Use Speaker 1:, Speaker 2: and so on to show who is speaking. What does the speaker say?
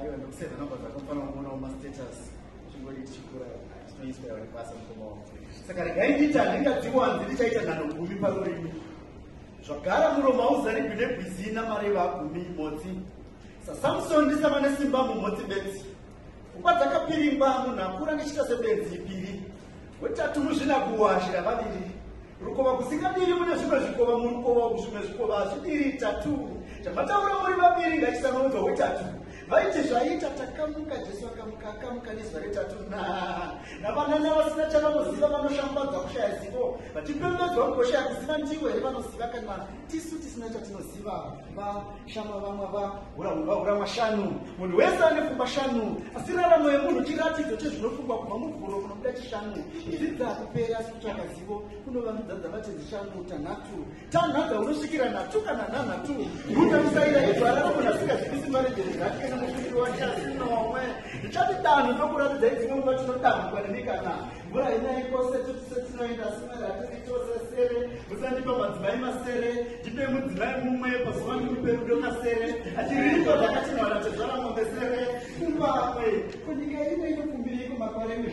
Speaker 1: Aiwa ndokusave number dzako mfana kuonawo mastatus chingori tichikura tinoiswa yavari basa mukoma wavo saka regai ndiita handingadziwanzi ndichaita nhano gumi parurimi zvagara muroma uzarigwi negwizina mari vagumi motsi sasamson ndisava nesimba mumotsi bedzi pfungwa dzakapiringwa munhu akura ndichiita sebenzi ipiri wetatu muzvinakuwashira vaviri Rukova kusingadiri mune zvimwe zvikova murukova uku zvimwe zvikova hazvidiri tatu chamataura muri vaviri ngachisanoudzwa wetatu vaiti zvaita takamuka jesu akamuka akamuka nezuva retatu na navanana vasina chavanoziva vanoshambadza kushaya zivo vachipembedzwa mugosha yakuziva ndivo here vanoziva kana tisu tisina chatinoziva vashama vamwe vahurahura mashanu munhu wese ane fumba shanu asi raramo yemunhu chiratidzo chezvinofungwa kubva muvhuro kunobuda chishanu izvi dzakupera asi kutsvaka kunovandudza dzavati zishangu tanhatu tanhadza unosvikira nhatu kana nhanhatu kutamisaira izvarara munhu asingazivisi maredheri zati kana mushumiri wake asinomwe ndichati danho ndokuratidza idzimwe nguva tinodamhukwa nemi kana mvura inai kose tutise tinoenda simere hatiritose sere musandipa madzimai masere ndipe mudzimai mumwe pazuva ndikupe rudo kasere achiriiko zvakatinhwana tezvara mombe sere kumbamwe kunyika ino inokumbiriko makore